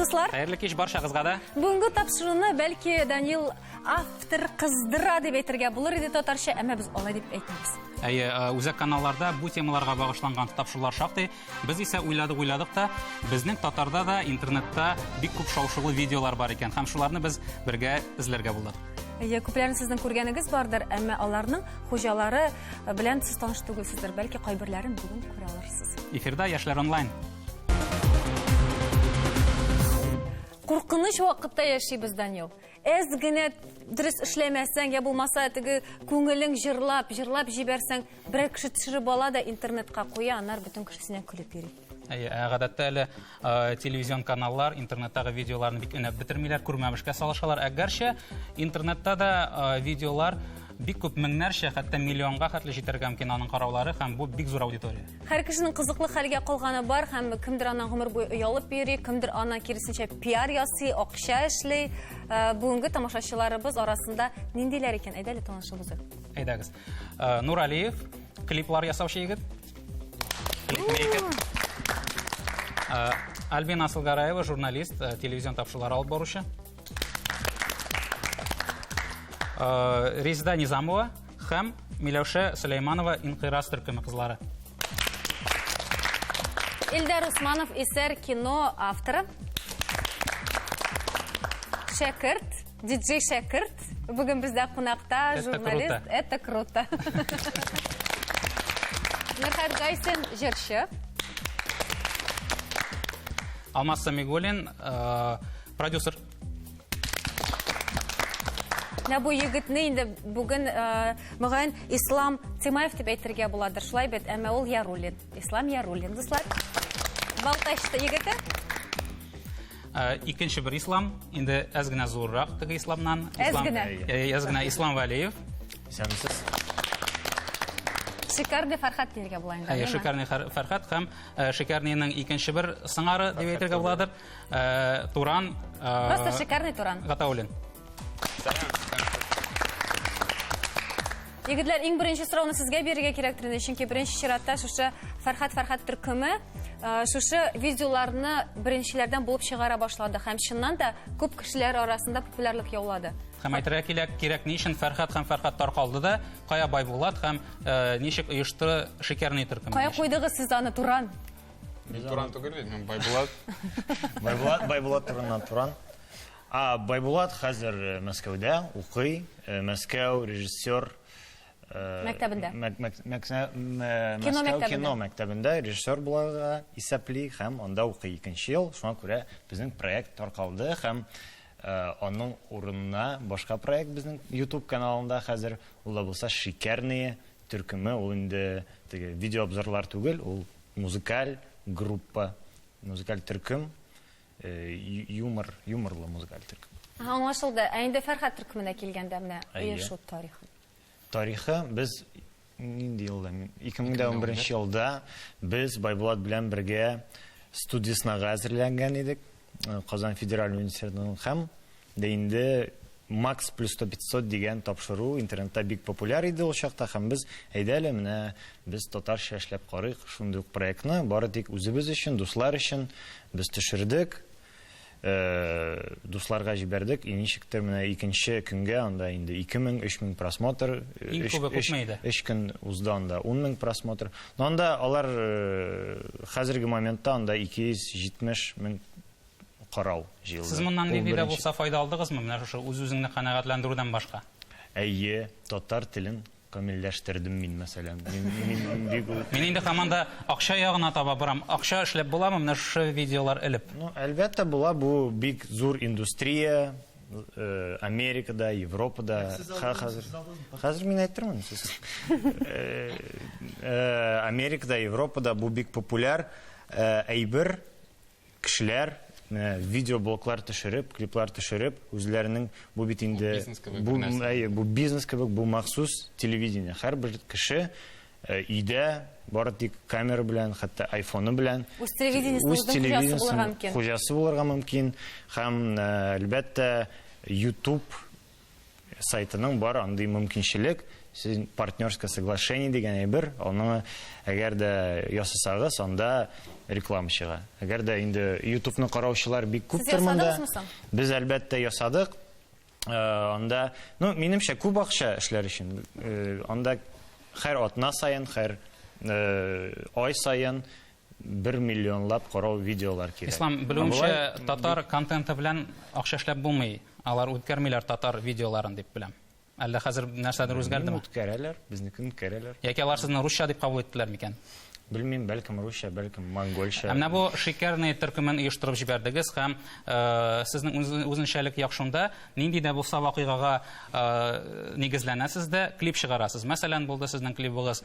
дуслар. Хәерле кич баршагызга да. Бүгенге тапшыруны бәлки Данил автор кыздыра дип әйтергә булыр иде татарча, әмма без алай дип әйтмибез. Әйе, э, үзәк каналларда бу темаларга багышланган тапшырулар шактый. Без исә уйладык-уйладык та, безнең татарда да интернетта бик күп шау-шулы видеолар бар икән, һәм шуларны без бергә эзләргә булдык. Әйе, күпләрен сезнең күргәнегез бардыр, әмма аларның хуҗалары белән сез таныш түгелсездер, бәлки кайберләрен бүген күрә алырсыз. Эфирда Яшьләр онлайн. Куркыныч вакытта яшибез, Данил. Әз генә дөрес эшләмәсәң, я булмаса теге күңелең җырлап, җырлап җибәрсәң, берәр кеше төшереп ала да интернетка куя, аннары бөтен кешесенә көлеп йөри. Әйе, ә гадәттә әле э, телевизион каналлар интернеттагы видеоларны бик өнәп бетермиләр, күрмәмешкә салышалар. Әгәрчә интернетта да э, видеолар бик күп меңнәрчә, хәтта миллионга хәтле җитәргә мөмкин аның караулары һәм бу бик зур аудитория. Һәр кешенең кызыклы хәлгә калганы бар һәм кемдер аннан гомер буе оялып йөри, кемдер аннан киресенчә пиар ясый, акча эшли. Э, бүгенге тамашачыларыбыз арасында ниндиләр икән? Әйдә әле танышып узыйк. Әйдәгез. Э, Нур Алиев, клиплар ясаучы егет. Клипмейкер. Э, Альбина Асылгараева, журналист, телевизион тапшырулар алып баручы. Резида Низамова, Хәм Миләүшә Сөләйманова Инкыйрас төркеме кызлары. Илдар Усманов исәр кино авторы. Шәкерт, диджей Шәкерт. Бүген бездә кунакта журналист. Это круто. Мирхат Гайсин, җырчы. Алмаз Самигулин, э, продюсер. Менә бу егетне инде бүген, э, мөгаен, Ислам Тимаев дип әйтергә буладыр. Шулай бит, әмма ул Яруллин. Ислам Яруллин, дуслар. Балтачта егете. Э, икенче бер ислам, инде әз генә зуррак теге исламнан. Әз генә. Э, әз генә Ислам Валиев. Исәнмесез. Шикарный Фәрхат диергә була инде. Әйе, Шикарный Фәрхат һәм Шикарныйның икенче бер сыңары дип әйтергә буладыр. Э, туран... Э, Просто шикарный туран. Гатаулин. Егетләр, иң беренче сорауны сезгә бирергә кирәк инде, чөнки беренче чиратта шушы Фәрхат Фәрхат төркеме э, шушы видеоларны беренчеләрдән булып чыгара башлады һәм чыннан да күп кешеләр арасында популярлык яулады. Һәм әйтергә кирәк, кирәк ни өчен Фәрхат һәм Фәрхат таркалды да, кая Байбулат һәм э, ничек оешты шикәрне төркеме. Кая куйдыгыз сез аны Туран? Мин Туран түгел бит, мин Байбулат. Байбулат, Байбулат турыннан Туран. А Байбулат хәзер э, Мәскәүдә укый. Э, Мәскәү режиссер э, Мәктәбендә. мәк- мәк- мәксә- мә- Кино Мәскәү мәктәбендә. кино мәктәбендә режиссер буларга исәпли һәм анда укый икенче ел. Шуңа күрә безнең проект таркалды һәм э, аның урынына башка проект безнең YouTube каналында хәзер ул да булса Шикәрные төркеме. Ул инде теге видеообзорлар түгел, ул музыкаль группа, музыкаль төркем, юмор, юморлы музыкаль төркем. Аңлашылды. Ә инде Фәрхәт төркеменә килгәндә менә оешу тарихы. Тарихы без нинди елда? 2011 елда без Байбулат белән бергә студиясенә әзерләнгән идек. Казан федераль университетының һәм Дә инде Макс плюс сто пятьсот дигән тапшыру интернетта бик популяр иде ул чакта һәм без, әйдә әле, менә без татарча эшләп карыйк, шундый ук проектны бары тик үзебез өчен, дуслар өчен без төшердек, дусларга җибәрдек и ничектер менә икенче көнгә анда инде ике мең, өч мең просмотр, Иң күбе күпме иде? өч көн узды анда ун мең просмотр. Но анда алар хәзерге моментта анда ике йөз җитмеш мең карау җыелды. Сез моннан нинди дә булса файда алдыгызмы, менә шушы үз-үзеңне канәгатьләндерүдән башка? Әйе, татар телен камилләштердем мин, мәсәлән. Мин инде һаман да акча ягына таба барам. Акча эшләп буламы менә шушы видеолар элеп? Ну, әлбәттә була, бу бик зур индустрия, э, Америкада, Европада. Хәзер мин әйтермен сез. Э, э, Америкада, Европада бу бик популяр әйбер. Кешеләр менә видеоблоглар төшереп, клиплар төшереп, үзләренең бу бит инде бу әйе, бу бизнес кебек, бу махсус телевидение. Һәрбер кеше э, өйдә бары тик камера белән, хәтта айфоны белән үз телевидениесен хуҗасы булырга мөмкин һәм э, әлбәттә YouTube сайтының бар андый мөмкинчелек, сез партнерское соглашение дигән әйбер, аны әгәр дә ясасагыз, анда реклама чыга. Әгәр дә инде YouTube-ны караучылар бик күптер монда. Без әлбәттә ясадык. Э, анда, ну, минемчә күп акча эшләр өчен. Э, анда хәр атна саен, хәр э, ай саен Бер миллионлап карау видеолар кирәк. Ислам, белүемчә, татар контенты белән акча эшләп булмый. Алар үткәрмиләр татар видеоларын дип беләм. Әллә хәзер нәрсәдер үзгәрдеме? Үткәрәләр, безнекен үткәрәләр. Яки алар сезне русча дип кабул иттеләр микән? Белмим, бәлкем русча, бәлкем монгольча. Ә менә бу шикәрный төркемен оештырып җибәрдегез һәм э, сезнең үзенчәлек як шунда, нинди дә булса вакыйгага э, нигезләнәсез дә клип чыгарасыз. Мәсәлән, булды сезнең клибыгыз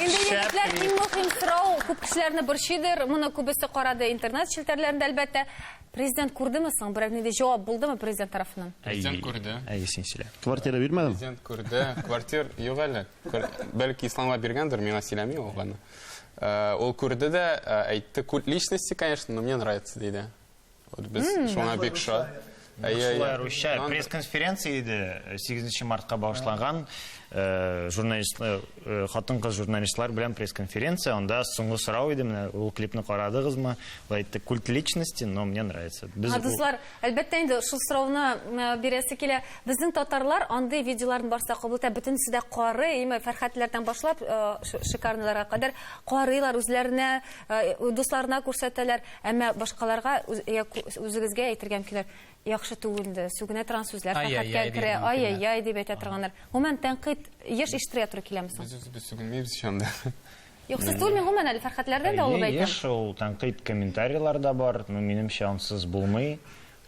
Инде егетләр иң мөһим сорау күп кешеләрне борчыйдыр. Моны күбесе карады интернет челтәрләрендә, әлбәттә. Президент күрдеме соң? Берәр нинди җавап булдымы президент тарафыннан? Президент күрде. Әйе, син сөйлә. Квартира бирмәдем. Президент күрде. Квартир юк әле. Квар- Бәлки исламга биргәндер, миңа сөйләми ул аны. Э, Ул күрде дә, э, әйтте, культ личности, конечно, но мне нравится, диде. Вот без шуңа бик шат. Әйе, әйе. Русча пресс-конференция иде, 8 мартка багышланган э, журналист э, э, хатын-кыз журналистлар белән пресс-конференция. Анда соңгы сорау иде, менә ул клипны карадыгызмы? Ул әйтте, культ личности, но мне нравится. Без Хадислар, әлбәттә инде шул сорауны бирәсе килә. Безнең татарлар андый видеоларын барса кабул итә, бөтенесе дә кары, име Фәрхәтләрдән башлап шикарныларга кадәр карыйлар, үзләренә, дусларына күрсәтәләр. Әмма башкаларга үзегезгә әйтергә мөмкиннәр, яхшы түгелде, сүгенә торган сүзләр хәккә керә, ай-яй-яй дип әйтә торганнар. Гомумән, тәнкыйть еш ишетергә туры киләме соң? Без үзебез сүгенмибез ич анда. Юк, сез түгелме, гомумән әле Фәрхәтләрдән дә алып әйтәм. Әйе, еш ул тәнкыйть комментарийлар да бар, но минемчә ансыз булмый.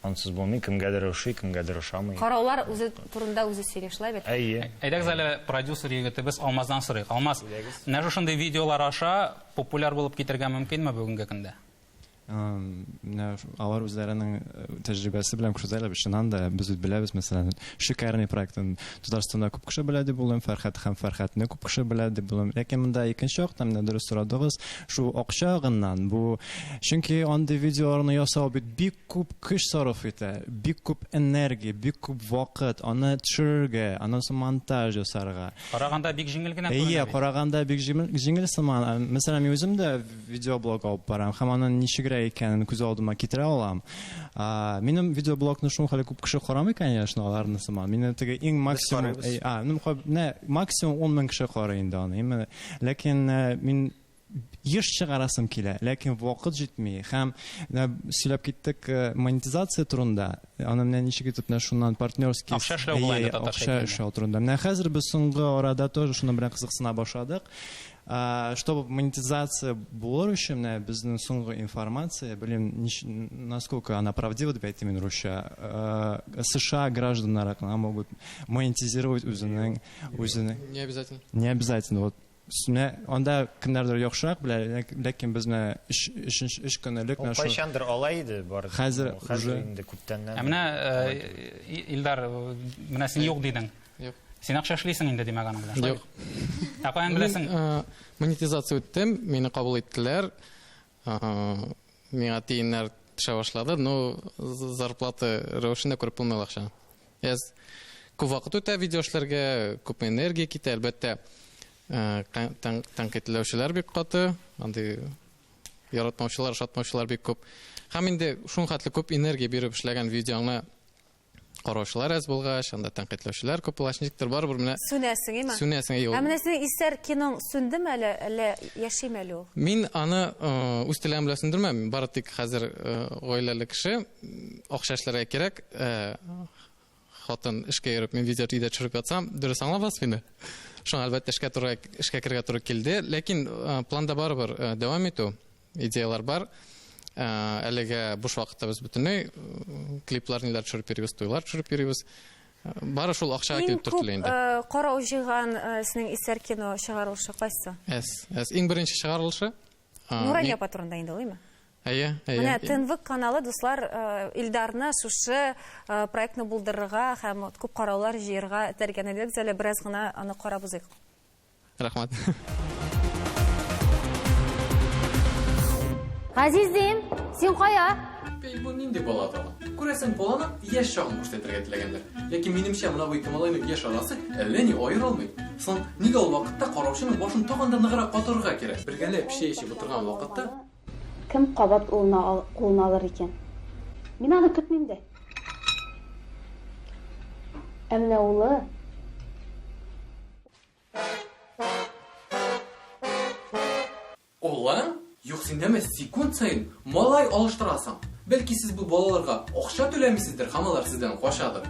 Ансыз булмый, кемгәдер ошый, кемгәдер ошамый. Караулар үзе турында үзе сөйли, шулай бит? Әйе. Әйдәгез әле продюсер егетебез Алмаздан сорыйк. Алмаз, менә шушындый видеолар аша популяр булып китергә мөмкинме бүгенге көндә? Менә алар үзләренең э, тәҗрибәсе белән күрсәтәләр, без чыннан да без үз беләбез, мәсәлән, Шикарный проектын Татарстанда күп кеше белә дип уйлыйм, Фәрхәт һәм Фәрхәтне күп кеше белә дип уйлыйм. Ләкин монда икенче яктан менә дөрес сорадыгыз, шул акча агыннан бу. Чөнки андый видеоларны ясау бит бик Күп көч сарыф итә, бик күп энергия, бик күп вакыт, аны төшерергә, аннан соң монтаж ясарга. Караганда бик җиңел генә күренә бит. Әйе, караганда бик җиңел сыман. Мәсәлән, мин үзем дә видеоблог алып барам һәм аның ничегрәк икәнен күз алдыма китерә алам. Минем видеоблогны шул хәтле күп кеше карамый, конечно, аларны сыман. Минем теге иң максимум, максимум ун мең кеше карый инде аны. Ләкин мин еш чыгарасым килә, ләкин вакыт җитми. Һәм менә сөйләп киттек э, монетизация турында. Аны менә ничек итеп менә шуннан партнерский акча эшләү э, була Акча эшләү турында. Менә хәзер без соңгы арада тоже шуның белән кызыксына башладык. Чтобы монетизация булыр өчен менә безнең соңгы информация, белмим, насколько она правдива, дип әйтим мин русча. Э, США гражданнары могут монетизировать үзенең үзенең. Не обязательно. Не обязательно. Вот Менә анда кемнәрдер яхшырак белә, ләкин без менә өч, өченче, өч көн элек менә Ул шул- кайчандыр алай иде бар. Хәзер Ул хәзер уже- инде күптәннән. Ә менә алай э, түгел. И- Илдар, э, менә син юк дидең. Юк. Син акча эшлисең инде, димәк, аның белән. Юк. Ә каян Мин беләсең? э, монетизация үттем, мине кабул иттеләр. Миңа тиеннәр төшә башлады, но зарплата рәвешендә күреп булмый акча. Әз күп вакыт үтә видео эшләргә, күп энергия китә, әлбәттә. Тәнкыйтьләүчеләр бик каты, андый яратмаучылар, шатмаучылар бик күп. Һәм инде шул хәтле күп энергия биреп эшләгән видеоңны караучылар әз булгач, анда тәнкыйтьләүчеләр күп булгач, ничектер барыбер менә сүнәсең име? Сүнәсең юк. Ә менә синең исәр киноң сүндеме әле, әллә яшиме әле ул? Мин аны э, үз теләгем белән сүндермәм. Бары тик хәзер э, гаиләле кеше, акча эшләргә кирәк. Э, хатын эшкә йөреп, мин видео өйдә төшереп ятсам, дөрес аңлабыз мине. Шуңа әлбәттә эшкә туры эшкә керергә туры килде, ләкин планда барыбер дәвам итү. идеялар бар. Ә, әлегә буш вакытта без бөтенләй клиплар ниләр төшереп йөрибез, туйлар төшереп йөрибез. Бары шул акчага килеп төртелә инде. Э, карау җыйган э, сезнең исәр кино чыгарылышы кайсы? Әс, әс. Иң беренче чыгарылышы. Нурания апа турында инде улыймы? Әйе, әйе. Менә Тынвык каналы дуслар э, Илдарны шушы проектны булдырырга һәм күп караулар җыерга этәргән идек. Әле бераз гына аны карап узыйк. Рәхмәт. Газизем, син кая? Бей, бу нинди бала тагы? Күрәсең, баланы яшь чагын буш итәргә теләгәннәр. Ләкин минемчә, мына бу ике малайның яшь арасы әллә ни аера алмый. Соң нигә ул вакытта караучының башын тагын да ныграк катырырга кирәк? Бергәләп чәй эчеп утырган вакытта Кем кабат улына ал- кулына алыр икән? Мин аны көтмим дә. Ә менә улы Алланың? Юк, син дәме секунд саен малай алыштырасың. Бәлки сез бу балаларга акча түләмисездер һәм алар сездән качадыр.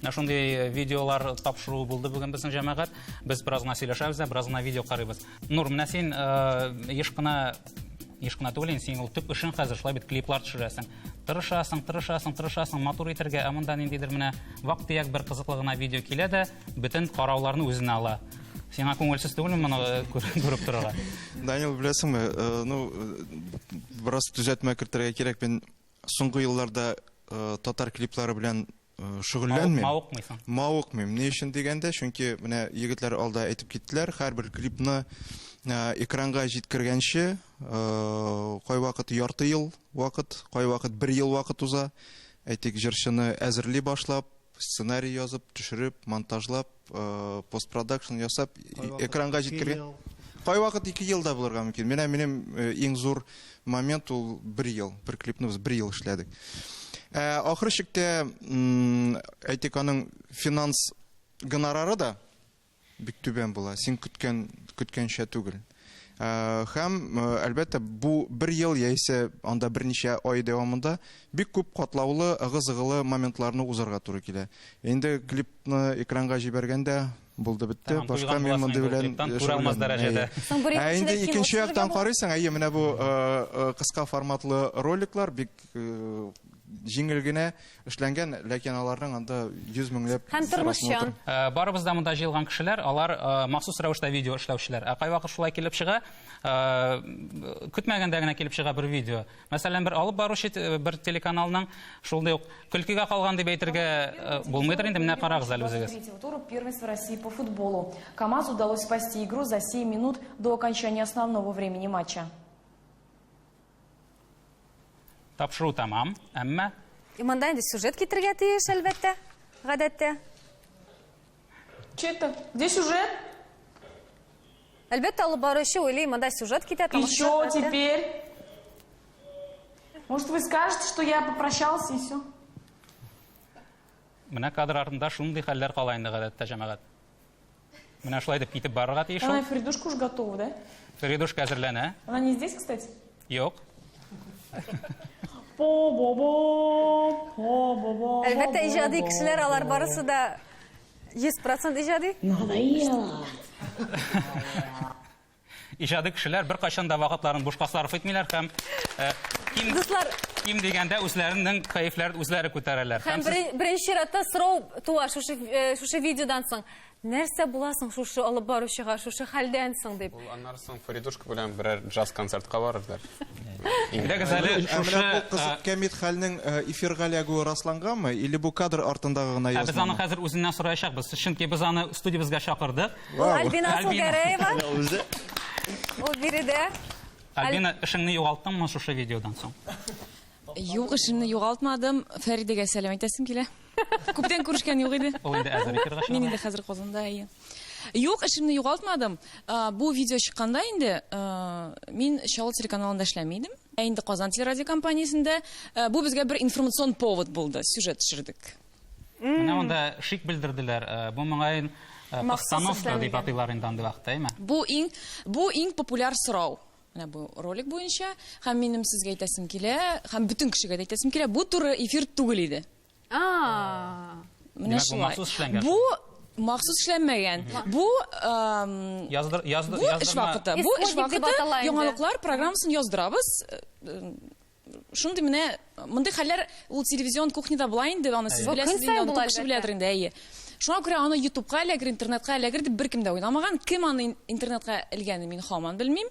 Менә шундый видеолар тапшыруы булды бүген безнең җәмәгать. Без бераз гына сөйләшәбез дә, бераз гына видео карыйбыз. Нур, менә син э, еш кына еш кына түгел инде синең ул төп эшең хәзер шулай бит клиплар төшерәсең тырышасың тырышасың тырышасың матур итәргә ә монда ниндидер менә вак төяк бер кызыклы гына видео килә дә бөтен карауларны үзенә ала сиңа күңелсез түгелме моны э, күр- күреп торырга Данил, беләсеңме, э, ну, э, бераз төзәтмә кертергә кирәк. Мин соңгы елларда э, татар клиплары белән шөгыльләнмим. Мавыкмыйсың. Мавыкмыйм. Ни өчен дигәндә, чөнки менә егетләр алда әйтеп киттеләр, һәрбер клипны экранга җиткергәнче кайвакыт ярты ел вакыт, кайвакыт бер ел вакыт уза. Әйтик, җырчыны әзерли башлап, сценарий язып, төшереп, монтажлап, э, постпродакшн ясап экранга җиткергән кайвакыт ике ел да булырга мөмкин менә минем э, иң зур момент ул бер ел бер клипны без бер ел эшләдек ә, ахыр чиктә әйтик аның финанс гонорары да бик түбән була син көткән көткәнчә түгел Һәм, әлбәттә, бу бер ел яисә анда берничә ай дәвамында бик күп катлаулы, ыгы-зыгылы моментларны узарга туры килә. Инде клипны экранга җибәргәндә, булды бетте, башка мин мондый белән шөгыльләнмим. Ә инде икенче яктан карыйсың, әйе, менә бу кыска форматлы роликлар бик Җиңел генә эшләнгән, ләкин аларның анда йөз меңләп Һәм тормышчан. Э, барыбыз да монда җыелган кешеләр, алар э, махсус рәвештә видео эшләүчеләр. Ә кайвакыт шулай килеп чыга, э, көтмәгәндә генә килеп чыга бер видео. Мәсәлән, бер алып баручы бер телеканалның шулай ук көлкегә калган дип әйтергә булмыйдыр инде, менә карагыз әле үзегез. Туру первенства России по футболу. КАМАЗ удалось спасти игру за 7 минут до окончания основного времени матча. Тапшыру тамам, әмма... И монда инде сюжет китергә тиеш, әлбәттә, гадәттә. Чето, где сюжет? Әлбәттә, алып баручы уйлый, монда сюжет китә. И что теперь? Может, вы скажете, что я попрощался и все? Менә кадр артында шундый хәлләр кала инде гадәттә, җәмәгать. Менә шулай дип китеп барырга тиеш ул. Фридушка уж готова, да? Фридушка әзерләнә. Она не здесь, кстати? Юк. Әлбәттә, иҗади кешеләр алар барысы да 100% иҗади. Надоело. Иҗади кешеләр беркайчан да вакытларын бушка сарыф итмиләр һәм ким, Дуслар, ким дигәндә үзләренең кәефләрен үзләре күтәрәләр. Һәм сез... беренче чиратта сорау туа шушы, шушы видеодан соң. Нәрсә буласың шушы алып баручыга, шушы хәлдән соң дип. Ул аннары соң Фаридушка белән берәр джаз концертка барырлар. Әйдәгез әле шушы комит хәлнең эфирга эләгүе расланганмы или бу кадр артындагы гына язмамы? Ә без аны хәзер үзеннән сораячакбыз. Чөнки без аны студиябезгә чакырдык. Ул Альбина Альбина. Сулгәрәева. Менә үзе. Ул биредә. Альбина, эшеңне югалтыңмы шушы видеодан соң? Юк, эшемне югалтмадым. Фәридәгә сәлам әйтәсем килә. Күптән күрешкән юк иде. Ул инде әзер эфирга чыга. Мин инде хәзер Казанда, әйе. Юк, эшемне югалтмадым. А, Бу видео чыкканда инде а, мин Чаллы телеканалында эшләми идем. Ә инде Казан телерадиокомпаниясендә. А, Бу безгә бер информацион повод булды. Сюжет төшердек. Менә монда шик белдерделәр. Э, бу моңаен э, постановка дип атыйлар инде андый вакытта, әйме? Бу иң бу иң популяр сорау. Менә бу ролик буенча һәм минем сезгә әйтәсем килә, һәм бөтен кешегә дә әйтәсем килә, бу туры эфир түгел иде. А. Менә шулай. Бу махсус эшләнмәгән. Бу яздыр яздыр бу эш вакыты. Бу эш вакыты яңалыклар программасын яздырабыз. Э, Шундый менә мондый хәлләр ул телевизион кухняда була инде, аны сез беләсез инде, аны күп кеше беләдер инде, әйе. Шуңа күрә аны ютубка эләгер, интернетка эләгер дип беркем дә уйламаган. Кем аны интернетка элгәнен мин хаман белмим.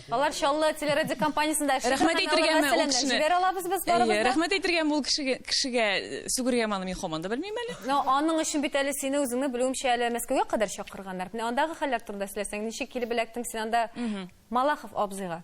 Алар Чаллы телерадио компаниясендә эшли. Рәхмәт әйтергәме ул кешене? Җибәр алабыз без барыбыз. Әйе, рәхмәт әйтергәме ул кешегә, кешегә сүгергәме аны мин хаман да белмим әле. Но аның өчен бит әле сине үзеңне белүемчә әле Мәскәүгә кадәр чакырганнар. Менә андагы хәлләр турында сөйләсәң, ничек килеп эләктең син анда Малахов абзыйга?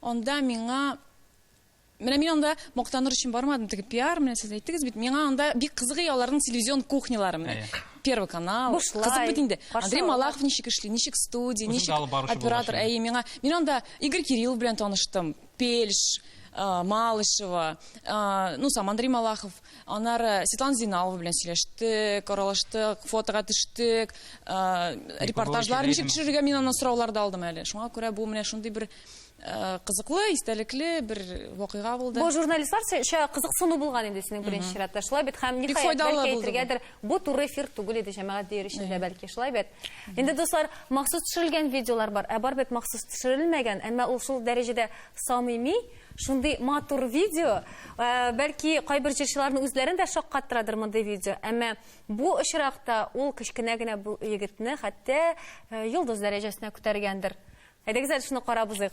Анда миңа Менә мин анда мактаныр өчен бармадым, теге пиар, менә сез әйттегез бит, миңа анда бик кызыгый аларның телевизион кухнялары менә. Первый канал. Кызык бит инде. Андрей Малахов ничек эшли, ничек студия, ничек оператор. Әйе, миңа мин анда Игорь Кирилл белән таныштым. Пельш, Малышева, ну сам Андрей Малахов. Аннары Светлана Зиналова белән сөйләштек, аралаштык, фотога төштек, репортажлар ничек төшерергә мин аннан сораулар да алдым әле. Шуңа күрә бу менә шундый бер кызыклы, истәлекле бер вакыйга булды. Бу журналистлар шуңа кызыксыну булган инде синең беренче чиратта. Шулай бит һәм ник файдалы әйтергәдер, бу туры эфир түгел иде җәмәгать дияр өчен дә бәлки шулай бит. Инде дуслар, махсус төшерелгән видеолар бар, ә бар бит махсус төшерелмәгән, әмма ул шул дәрәҗәдә самими. Шундый матур видео, э, бәлки кайбер җырчыларны үзләрен дә шаккаттырадыр мондый видео, әмма бу очракта ул кечкенә генә бу егетне хәтта э, йолдыз дәрәҗәсенә күтәргәндер. Әйдәгез әле шуны карап узыйк.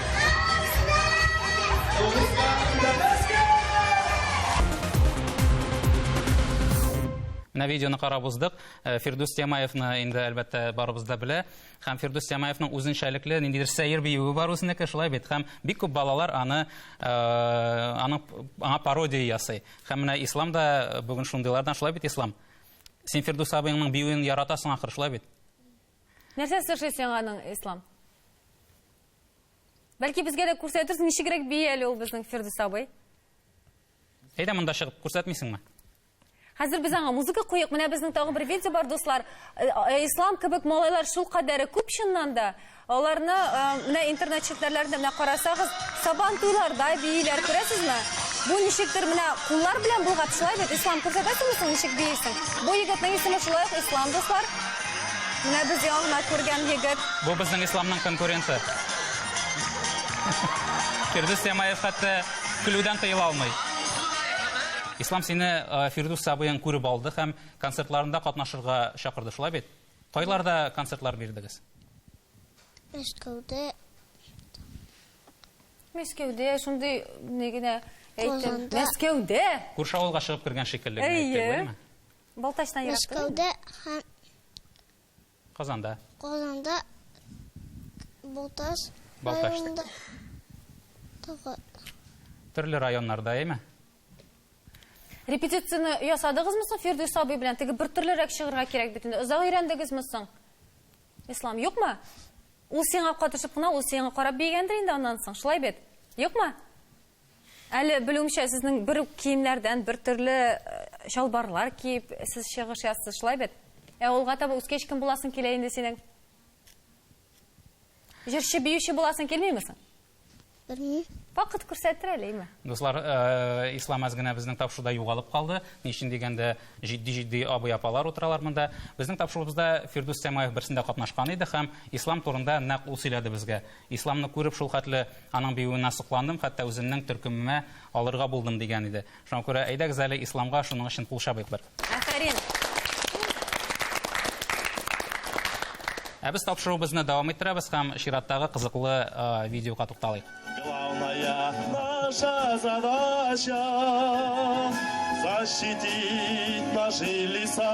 Менә видеоны карап уздык. Э, Фирдүс Тямаевны инде әлбәттә барыбыз да белә. Һәм Фирдүс Тямаевның үзенчәлекле ниндидер сәер биюе бар үзенеке, шулай бит. Һәм бик күп балалар аны э, аны аңа пародия ясый. Һәм менә ислам да э, бүген шундыйлардан, шулай бит ислам. Син Фирдүс абыеңның биюен яратасың ахыр, шулай бит. Нәрсә эшлисең аның ислам? Бәлки безгә дә күрсәтерсең, ничегрәк бии әле ул безнең Фирдүс абый. Әйдә монда чыгып күрсәтмисеңме? Хәзер без аңа музыка куйык. Менә безнең тагы бер видео бар, дуслар. Э, э, Ислам кебек малайлар шул кадәре күп чыннан да. Аларны э, менә интернет челтәрләрендә менә карасагыз, сабан туйларда бииләр, күрәсезме? Бу ничектер менә куллар белән булгап шулай бит. Ислам күрсәтәсеңме соң ничек биисең? Бу егетнең исеме шулай ук Ислам, дуслар. Менә без яңа гына күргән егет. Бу безнең Исламның конкуренты. Фирдүс Тямаев хәтта көлүдән тыела алмый. Ислам сине Фирдүс абыең күреп алды һәм концертларында катнашырга чакырды, шулай бит? Кайларда концертлар бирдегез? Мәскәүдә. Мәскәүдә, шундый ни генә әйтеп. Мәскәүдә! Күрше авылга чыгып кергән шикелле генә әйтте, әйеме? Балтачтан ерак түгел. Мәскәүдә һәм Казанда. Казанда Балтач районында тагы. Төрле районнарда, әйме? Репетицияне ясадыгызмы соң Фирдүс абый белән? Теге бер төрлерәк чыгырга кирәк бит инде. Озак өйрәндегезме соң? Ислам, юкмы? Ул сиңа катышып кына, ул сиңа карап бигәндер инде аннан соң. Шулай бит? Юкмы? Әле белүемчә, сезнең бер үк киемнәрдән бер төрле чалбарлар киеп, сез чыгыш ясыз, шулай бит? Ә алга таба үскәч кем буласың килә инде синең? Җырчы, биюче буласың килмиме соң? Белмим. Вакыт күрсәтер әле, име? Дуслар, э, Ислам әз генә безнең тапшыруда югалып калды. Ни өчен дигәндә, җитди-җитди абый-апалар утыралар монда. Безнең тапшыруыбызда Фирдүс Сәмаев берсендә катнашкан иде һәм Ислам турында нәкъ ул сөйләде безгә. Исламны күреп, шулхәтле аның биюенә сокландым, хәтта үземнең төркемемә алырга булдым, дигән иде. Шуңа күрә әйдәгез әле Исламга шуның өчен кул чабыйк бер. Афәрин! Ә без тапшыруыбызны дәвам иттерәбез һәм чираттагы кызыклы видеога тукталыйк. Главная наша задача защитить наши леса.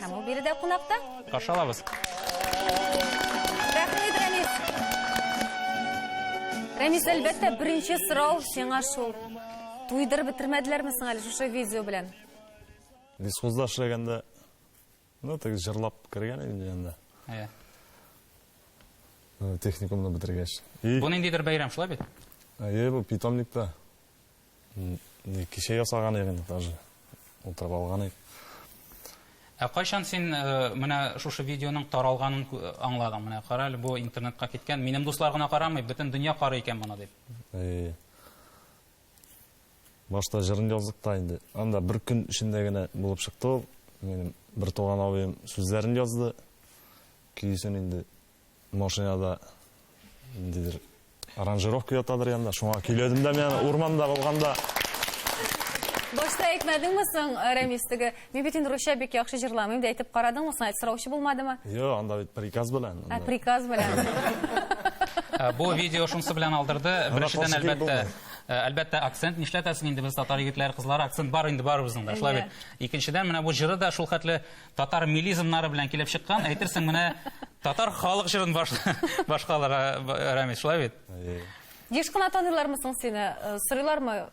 Һәм ул биредә кунакта. Каршы алабыз. Рәхмәт, Рәмис. Рәмис, әлбәттә, беренче сорау сиңа шул. Туйдырып бетермәделәрме соң әле шушы видео белән? Дискузда эшләгәндә, ну, так җырлап кергән инде янда. Әйе. Техникумны бетергәч. Бу ниндидер бәйрәм шулай бит? Әйе, бу питомникта. Кичә ясаган идек инде даже. Утырып алган идек. Ә кайчан син э, менә шушы видеоның таралганын аңладың? Менә кара әле, бу интернетка киткән. Минем дуслар гына карамый, бөтен дөнья карый икән моны дип. Э, башта җырын яздык та инде. Анда бер көн эчендә генә булып чыкты ул. Минем бер туган абыем сүзләрен язды. Көйсен инде Машинада ниндидер аранжировка ятадыр янда, шуңа көйләдем дә мен урманда булганда. Башта әйтмәдеңме соң э, Рәмис теге? Мин бит инде русча бик яхшы җырламыйм да әйтеп карадыңмы соң? Әйт сораучы булмадымы? Йо, анда бит приказ белән. Ә приказ белән. Э, бу видео шунсы белән алдырды. Беренчедән әлбәттә Э, әлбәттә акцент нишләтәсең инде без татар егетләре кызлары акцент бар инде барыбызның да шулай бит икенчедән менә бу җыры да шул хәтле татар милизмнары белән килеп чыккан, әйтерсең менә татар халык җырын баш, башкаларга Рамис, шулай бит? Еш кына таныйлармы соң сине? Э, сорыйлармы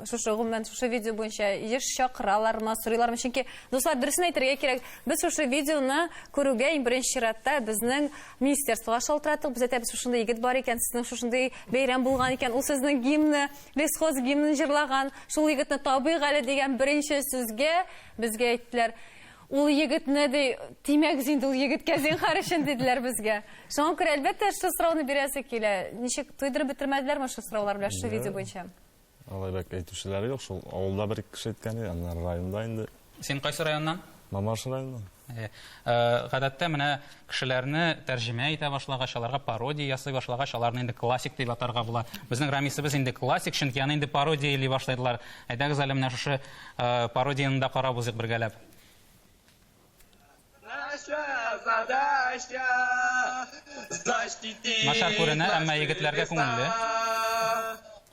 шушы гомумән шушы видео буенча еш чакыралармы, сорыйлармы? Чөнки дуслар дөресен әйтергә кирәк, без шушы видеоны күрүгә иң беренче чиратта безнең министерствога шалтыраттык. Без әйтәбез, шушында егет бар икән, сезнең шушында бәйрәм булган икән, ул сезнең гимны, лесхоз гимнын җырлаган, шул егетне табыйк әле дигән беренче сүзгә Безгә әйттеләр, ул егетне, ди, тимәгез инде ул егеткә зинхар өчен, диделәр безгә. Шуңа күрә, әлбәттә, шул сорауны бирәсе килә. Ничек туйдырып бетермәделәрме шул сораулар белән, шул видео буенча? Алай бәк әйтүчеләр юк, шул авылда бер-ике кеше әйткән иде, аннары районда инде. Син кайсы районнан? Мамаш районыннан. Әйе. Гадәттә, менә кешеләрне тәрҗемә итә башлагач, аларга пародия ясый башлагач, аларны инде классик дип атарга була. Безнең Рамисыбыз инде классик, чөнки аны инде пародия эли башлыйлар. Әйдәгез әле менә шушы пародияны да карап узыйк бергәләп. Начар күренә, әмма егетләргә күңелле.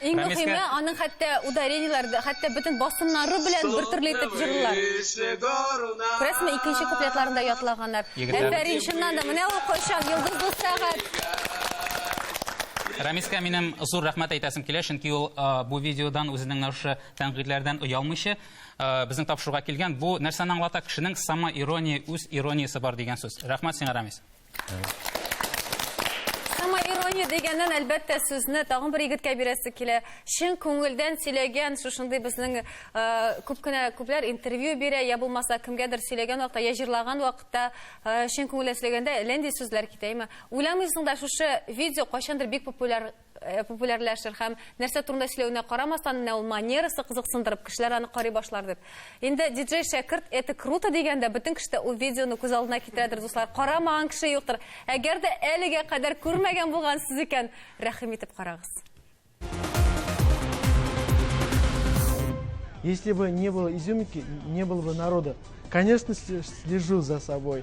Иң мөхиме, аның хәтта ударениеләр, хәтта бөтен басымнары белән бер төрле итеп җырлыйлар. Күрәсезме, икенче куплетларын да ятлаганнар. Әфәрин, чыннан да, менә ул кайчан, йолдызлы сәгать. Рамискә минем зур рәхмәт әйтәсем килә, чөнки ул бу видеодан үзенең менә шушы тәнкыйтьләрдән оялмыйча безнең тапшыруга килгән. Бу нәрсәне аңлата? Кешенең самоирония, үз ирониясе бар дигән сүз. Рәхмәт сиңа, Рамис. Самоирония дигәннән, әлбәттә, сүзне тагын бер егеткә бирәсе килә. Чын күңелдән сөйләгән, шушындый безнең э, күп кенә күпләр интервью бирә, я булмаса кемгәдер сөйләгән вакытта, я җырлаган вакытта, э, чын күңелдән сөйләгәндә, ләнди сүзләр китә. Әмма уйламыйсың да, шушы видео кайчандыр бик популяр Э, популярләшер һәм нәрсә турында сөйләвенә карамастан менә ул манерасы кызыксындырып кешеләр аны карый башлар дип инде диджей шәкерт это круто дигәндә бөтен кеше дә ул видеоны күз алдына китерәдер дуслар карамаган кеше юктыр әгәр дә әлегә кадәр күрмәгән булгансыз икән рәхим итеп карагыз Если бы не было изюминки, не было бы народа. Конечно, слежу за собой.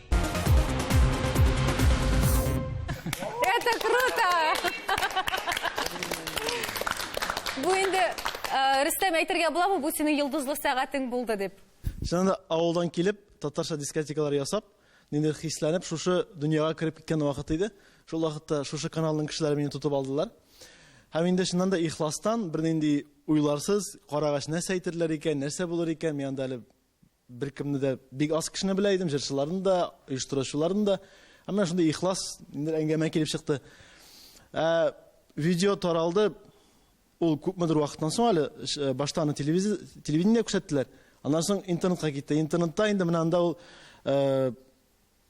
Это круто! Бу инде э, Рөстәм әйтергә буламы, бу синең йолдызлы сәгатең булды дип. Чыннан да авылдан килеп, татарча дискотекалар ясап, ниндидер хисләнеп, шушы дөньяга кереп киткән вакыт иде. Шул вакытта шушы каналның кешеләре мине тотып алдылар. Һәм инде чыннан да ихластан, бернинди уйларсыз, карагач нәрсә әйтерләр икән, нәрсә булыр икән, миңа да әле Беркемне дә, бик аз кешене белә идем, җырчыларны да, оештыручыларны да. Ә менә шундый ихлас инде әңгәмә килеп чыкты. Ә, видео таралды, ул күпмедер вакыттан соң әле, э, башта аны телевидение күрсәттеләр, аннан соң интернетка китте. Интернетта инде менә анда ул, э,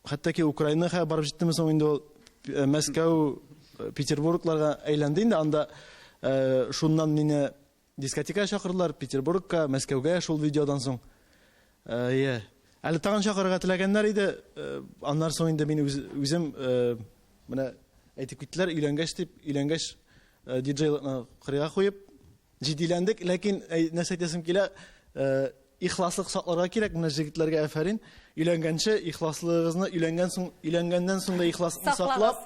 хәтта Украинаға барып җиттеме соң инде ул, э, Мәскәү, Петербургларга әйләнде инде, анда шуннан мине Дискотекага чакырдылар, Петербургка, Мәскәүгә шул видеодан соң. Әйе. Әле тагын чакырырга теләгәннәр иде. Аннар соң инде мин үзем менә әйтеп киттеләр, өйләнгәч дип, өйләнгәч диджейлыкны кырыйга куеп, җитдиләндек, ләкин нәрсә әйтәсем килә, Ихласлык сакларга кирәк, менә җегетләргә әфәрин. Өйләнгәнче ихласлыгыгызны, өйләнгән соң, өйләнгәннән соң да ихласлыкны саклап,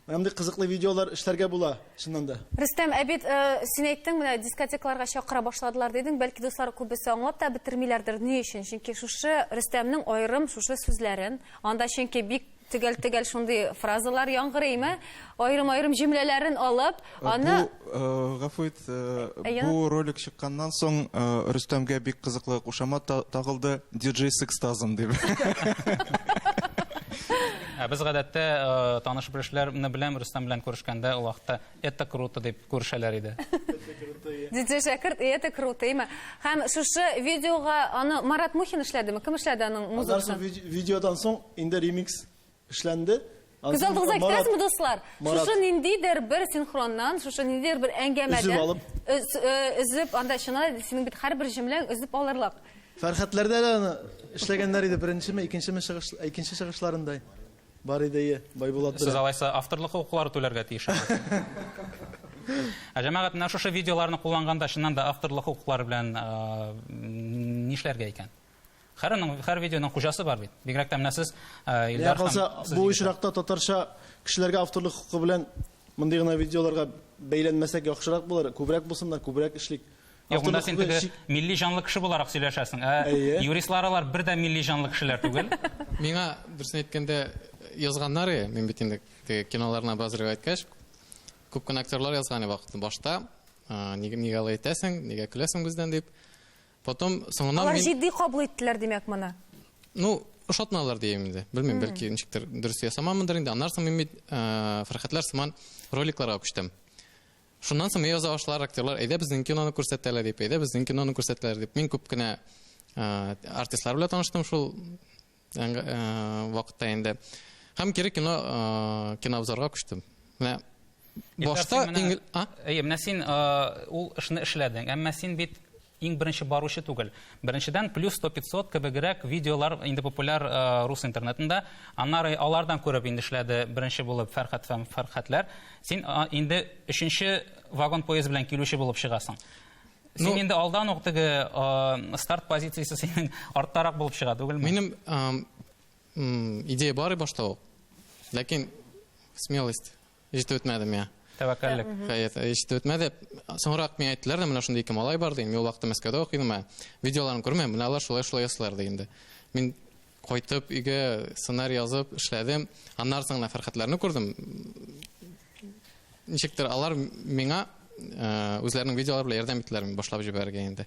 менә мондый кызыклы видеолар эшләргә була, чыннан да. Рөстәм, ә бит син әйттең, менә дискотекаларга чакыра башладылар дидең, бәлки дуслар күбесе аңлап та бетермиләрдер, ни өчен? Чөнки шушы Рөстәмнең аерым шушы сүзләрен, анда чөнки бик Төгәл-төгәл шундый фразалар яңгырыймы? Аерым-аерым җөмләләрен алып, э, аны... Бу, э, гафу ит, э, бу ролик чыкканнан соң Рөстәмгә бик кызыклы кушама тагылды, диджей с экстазом дип. Ә без гадәттә таныш белешләрне беләм, Рөстәм белән күрешкәндә ул вакытта Это круто дип күрешәләр иде. Диджей Шәкерт, и это круто, имя. Һәм шушы видеога аны Марат Мухин эшләдеме? Кем эшләде аның музыкасын? Видеодан соң инде ремикс эшләнде. Күз алдыгызга китерәсезме, дуслар? Шушы ниндидер бер синхроннан, шушы ниндидер бер әңгәмәдән өзеп алып, өзеп, анда чына синең бит һәрбер җөмләң өзеп алырлык. Фәрхәтләрдә дә эшләгәннәр иде беренчеме, икенчеме чыгыш, икенче чыгышларында. Бар иде, ие, Байбулат белән. Сез алайса авторлык хокуклары түләргә тиеш аңа. Ә җәмәгать менә шушы видеоларны кулланганда чыннан да авторлык хокуклары белән нишләргә икән? Хәрәнең хәр видеоның хуҗасы бар бит. Бигрәк тә менә сез Илдар хан. Бу очракта татарча кешеләргә авторлык хокукы белән мондый гына видеоларга бәйләнмәсәк яхшырак булыр. Күбрәк булсыннар, күбрәк эшлик. Юк, монда син теге милли җанлы кеше буларак сөйләшәсең. Ә юристлар алар бер дә милли җанлы кешеләр түгел. Миңа дөресен әйткәндә язганнар, мин бит инде киноларына бераз риваять кәш. Күп кенә актерлар язган вакытта башта, нигә нигә алай әйтәсең, нигә көләсең бездән дип. Потом соңыннан Алар җитди кабул иттеләр, димәк, моны. Ну, ошатмалар дим инде. Белмим, бәлки ничектер дөрес ясамамындыр инде. Аннан соң мин бит Фәрхәтләр сыман роликларга күчтем. Шуннан соң яза башлар актерлар, әйдә безнең киноны күрсәтәләр дип, әйдә безнең киноны күрсәтәләр дип. Мин күп кенә артистлар белән таныштым шул вакытта инде. Һәм кире кино кинообзорга күчтем. Менә башта иңел... Әйе, менә син ул эшне эшләдең, әмма син бит Иң беренче баручы түгел. Беренчедән, плюс 100-500 кебегрәк видеолар инде популяр э, рус интернетында. Аннары алардан күреп инде эшләде беренче булып Фәрхәт һәм Фәрхәтләр. Син а, инде өченче вагон поезд белән килүче булып чыгасың. Син ну, инде алдан ук теге э, старт позициясе синең арттарак булып чыга түгелме? Минем э, идея бар башта ук. Ләкин смелость ишетеп үтмәдем, я. Тәвәккәллек. Хәят, ишетеп үтмәде. Соңрак миңа әйттеләр дә, менә шундый ике малай бар, дигән. Мин ул вакытта Мәскәүдә укыйдым, ә видеоларын күрмәм, менә алар шулай-шулай ясыйлар, дигән дә. Мин кайтып өйгә сценарий язып эшләдем. Аннары соң Фәрхәтләрне күрдем. Ничектер алар миңа үзләренең видеолары белән ярдәм иттеләр, мин башлап җибәрергә инде.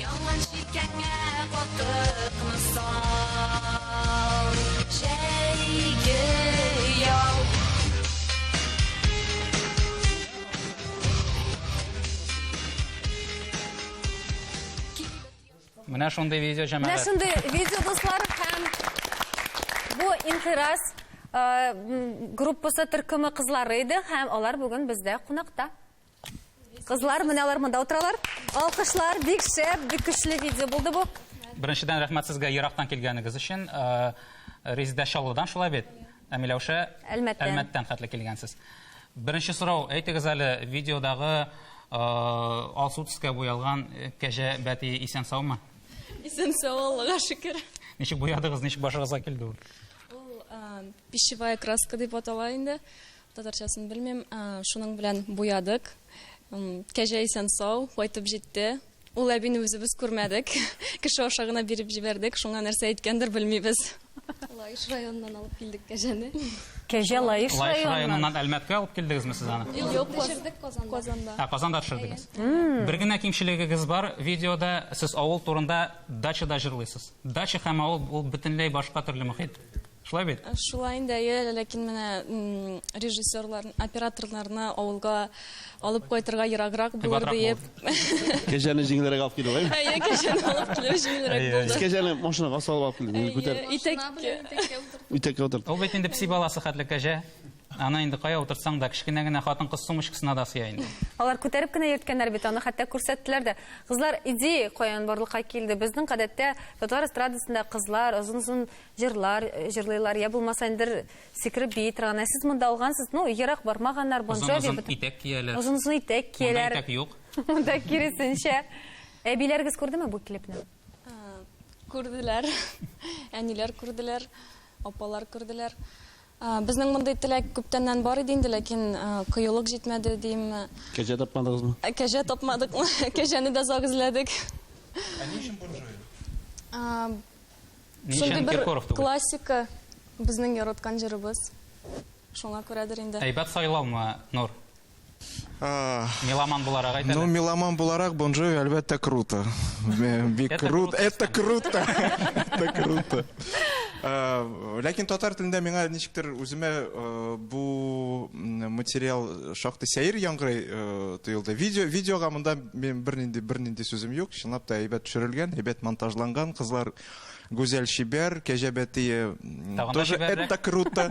Яман шикәңә катыкны сал, җәйге ял. Менә шундый видео җәмәгать. Менә шундый видео дуслар һәм бу Инкыйраз группасы төркеме кызлары иде һәм алар бүген бездә кунакта. Кызлар, менә алар монда утыралар. Алкышлар, бик шәп, бик көчле видео булды бу. Беренчедән рәхмәт сезгә ерактан килгәнегез өчен. Э, Резидә Чаллыдан шулай бит. Ә Миләүшә Әлмәттән. Әлмәттән хәтле килгәнсез. Беренче сорау, әйтегез әле, видеодагы э, алсу төскә буялган э, кәҗә бәти исән саумы? Исән сау, Аллага шөкер. Ничек буядыгыз, ничек башыгызга килде ул? Ул э, пищевая краска дип атала инде. Татарчасын белмим, шуның белән буядык. Кәҗә исән сау, кайтып җитте. Ул әбине үзебез күрмәдек. Кеше аша гына биреп җибәрдек. Шуңа нәрсә әйткәндер белмибез. Лаеш районыннан алып килдек кәҗәне. Кәҗә Лаеш районыннан. Лаеш районыннан Әлмәткә алып килдегезме сез аны? Юк, төшердек Казанда. Казанда. А, Казанда төшердегез. Бер генә кимчелегегез бар видеода, сез авыл турында дачада җырлыйсыз. Дача һәм авыл ул бөтенләй башка төрле мөхит. Шулай бит? Э, шулай инде, әйе, ләкин менә режиссерлар, операторларны авылга алып кайтырга ераграк булыр диеп. Кәҗәне җиңелрәк алып килү, әйе? Әйе, кәҗәне алып килү җиңелрәк булды. Сез кәҗәне машинага салып алып килдегез, күтәреп. Итәк. Итәккә утырдык. Ул бит инде пси баласы хәтле кәҗә. Аны инде кая утыртсаң да, кечкенә генә хатын-кыз сумочкасына да сыя инде. Алар күтәреп кенә йөрткәннәр бит, аны хәтта күрсәттеләр дә. Кызлар идея каян барлыкка килде? Безнең гадәттә татар эстрадасында кызлар озын-озын җырлар э, җырлыйлар, я булмаса индер сикереп бии торган. Ә сез монда алгансыз, ну, ерак бармаганнар, Бон Джови. Озын-озын итәк кияләр. Озын-озын итәк кияләр. Монда итәк юк. Монда киресенчә. Әбиләрегез күрдеме бу клипны? Күрделәр. Әниләр күрделәр, апалар күрделәр. Безнең мондый теләк күптәннән бар иде инде, ләкин кыюлык җитмәде, димме. Кәҗә тапмадыгызмы? Кәҗә тапмадыкмы? Кәҗәне дә озак эзләдек. Ә ни өчен Бон Джови? Ни өчен Киркоров түгел? Классика, безнең яраткан җырыбыз. Шуңа күрәдер инде. Әйбәт сайлаумы, Нур? Меломан буларак әйтәле. Ну, меломан буларак Бон Джови әлбәттә круто. Бик круто. Это круто. Это круто. Ләкин татар телендә миңа ничектер үземә бу материал шактый сәер яңгырый тоелды. Видео видеога монда мин бернинди бернинди сүзем юк. Чынлап та әйбәт төшерелгән, әйбәт монтажланган. Кызлар Гүзәл чибәр, Кәҗә Бәтие тоже это круто.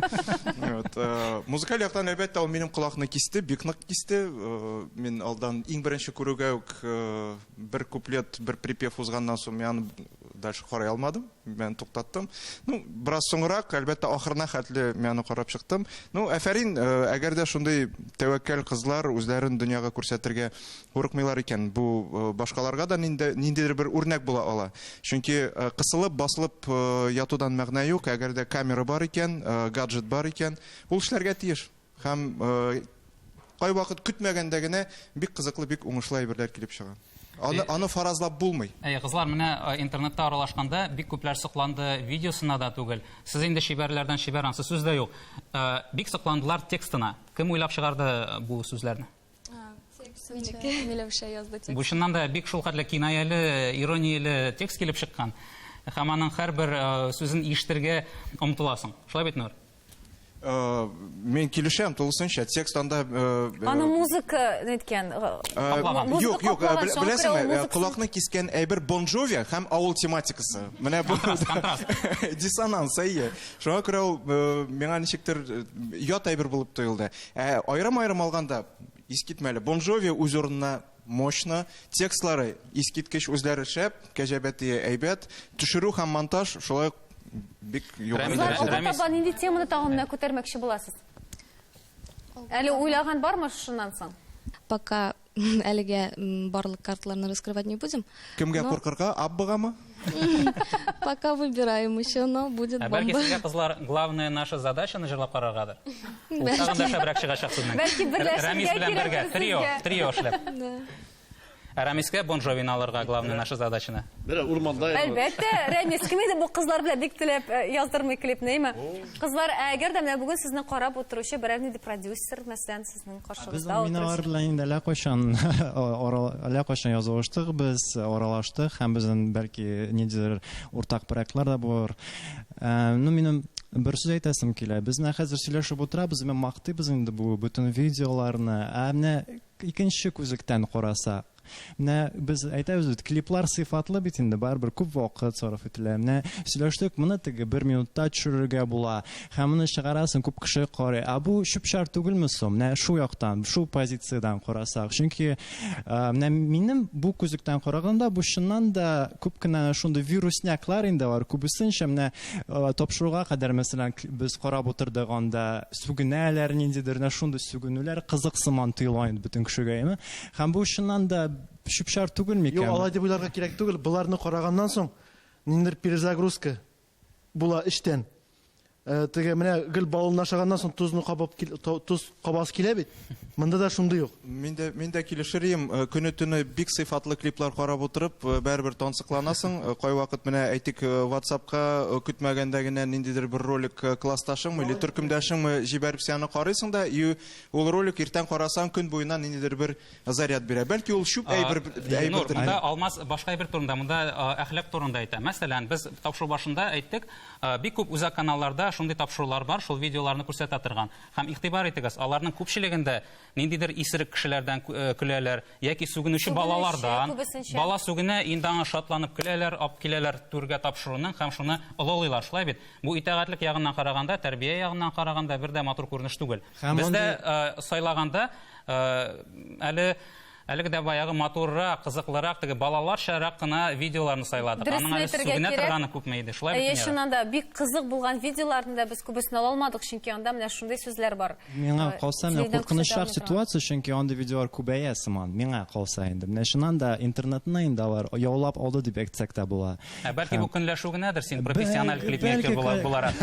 Э, музыкаль яктан, әлбәттә, ул минем колакны кисте, бик нык кисте. Э, мин алдан иң беренче күрүгә үк э, бер куплет, бер припев узганнан соң мин аны дальше карай алмадым, мин туктаттым. Ну, бераз соңрак, әлбәттә, ахырына хәтле мин аны карап чыктым. Ну, әфәрин, әгәр дә шундый тәвәккәл кызлар үзләрен дөньяга күрсәтергә курыкмыйлар икән, бу башкаларга да ниндидер бер үрнәк була ала. Чөнки кысылып, басылып ятудан мәгънә юк, әгәр дә камера бар икән, гаджет бар икән, ул эшләргә тиеш. Һәм кайвакыт көтмәгәндә генә бик кызыклы, бик уңышлы әйберләр килеп чыга. Аны, аны фаразлап булмый. Әй, кызлар, менә интернетта аралашканда бик күпләр сокланды, видеосына да түгел. Сез инде чибәрләрдән чибәр, ансы сүз дә юк. Бик сокландылар текстына. Кем уйлап чыгарды бу сүзләрне? Бу чыннан да бик шул хәтле кинаяле, иронияле текст килеп чыккан. Һәм аның һәрбер э, сүзен ишетергә омтыласың. Шулай бит, Нур? Э, мен килешәм тулысынча текст анда э, э, аны музыка неткән юк юк беләсеңме колакны кискән әйбер бон джови һәм авыл тематикасы менә бу диссонанс әйе шуңа күрә ул миңа ничектер ят әйбер булып тоелды Ә аерым-аерым алганда, искитмәле. Бон Джови үз урынына мощно, текстлары искиткеч, үзләре шәп, кәҗәбәтие әйбәт, төшерү һәм монтаж шулай ук бик югары Рамис, дәрәҗәдә. Алга Рамис. таба нинди теманы тагын менә күтәрмәкче буласыз? Әле уйлаган бармы шуннан соң? Пока әлегә барлык картларны раскрывать не будем. Кемгә но... куркырга? Аббыгамы? Пока выбираем еще, но будет бомба. Бәлки сезгә кызлар главная наша задача җырлап караргадыр. Тагын да шәбрәк чыгачак сезнең. Бәлки берләшергә кирәк. Трио, трио эшләп. Ә Рәмискә Бон Джовины алырга главный наша задачаны. Бер урманда. Әлбәттә, Рәмис кем иде бу кызлар белән бик теләп э, яздырмый клипныймы? Кызлар, әгәр дә менә бүген сезне карап утыручы берәр нинди продюсер, мәсәлән, Сезнең каршыгызда Без утырып... миналар белән инде әллә кайчан әллә кайчан язылыштык без, аралаштык һәм безнең бәлки ниндидер уртак проектлар да булыр. Э, ну, минем бер сүз әйтәсем килә. Без менә хәзер сөйләшеп утырабыз, мен мактыйбыз инде бу бөтен видеоларны. Ә менә икенче күзлектән карасак, Менә без әйтәбез бит, клиплар сыйфатлы бит инде, барыбер күп вакыт сарыф ителә. Менә сөйләштек, моны теге бер минутта төшерергә була. Һәм моны чыгарасын күп кеше карый. А бу чүп-чар түгелме соң? Менә шу яктан, шу позициядән карасак. Чөнки э, менә минем бу күзлектән караганда бу чыннан да күп кенә шундый вирусняклар инде бар. Күбесенчә менә э, тапшыруга кадәр мәсәлән без карап утырдык анда сүгенәләр ниндидер, менә шундый сүгенүләр кызык сыман тоела инде бөтен кешегә. Һәм бу чыннан да чүп-чар түгел микән? Юк, алай дип уйларга кирәк түгел. Боларны караганнан соң, ниндидер перезагрузка була эчтән. Э, теге менә гел балын ашаганнан соң тузны кабып туз кабасы килә бит монда да шундый ук мин дә мин дә килешер идем э, көне төне бик сыйфатлы клиплар карап утырып э, бәрібір тансыкланасың кайвакыт менә әйтик ватсапка көтмәгәндә генә ниндидер бер ролик классташыңмы или төркемдәшеңме җибәреп сәне карыйсың да и Ул ролик иртән карасаң көн буена ниндидер бер заряд бирә. Бәлки ул чүп әйбер әйбер турында. Алмаз башка әйбер турында, монда әхлак турында әйтә. Мәсәлән, без тапшыру башында әйттек, бик күп үзәк каналларда шундый тапшырулар бар, шул видеоларны күрсәтә торган. Һәм игътибар итегез, аларның күпчелегендә ниндидер исерек кешеләрдән көләләр, яки сүгенүче балалардан бала сүгенә инде аңа шатланып көләләр алып киләләр түргә тапшыруның һәм шуны олылыйлар шулай бит бу итәгатьлек ягыннан караганда тәрбия ягыннан караганда бер дә матур күренеш түгел бездә э, сайлаганда э, әле әлеге дә баягы матуррак кызыклырак теге балаларчарак кына видеоларны сайладык аның әле сүгенә торганы күпме иде шулай бит чыннан да бик кызык булган видеоларны да без күбесен ала алмадык чөнки анда менә шундый сүзләр бар Миңа э, калса, менә куркынычрак ситуация, чөнки андый видеолар күбәя сыман. Миңа калса инде. Менә чыннан да интернетны инде алар яулап алды дип әйтсәк тә була. Ә бәлки бу көнләшү генәдер син профессиональ клипмейкер буларак.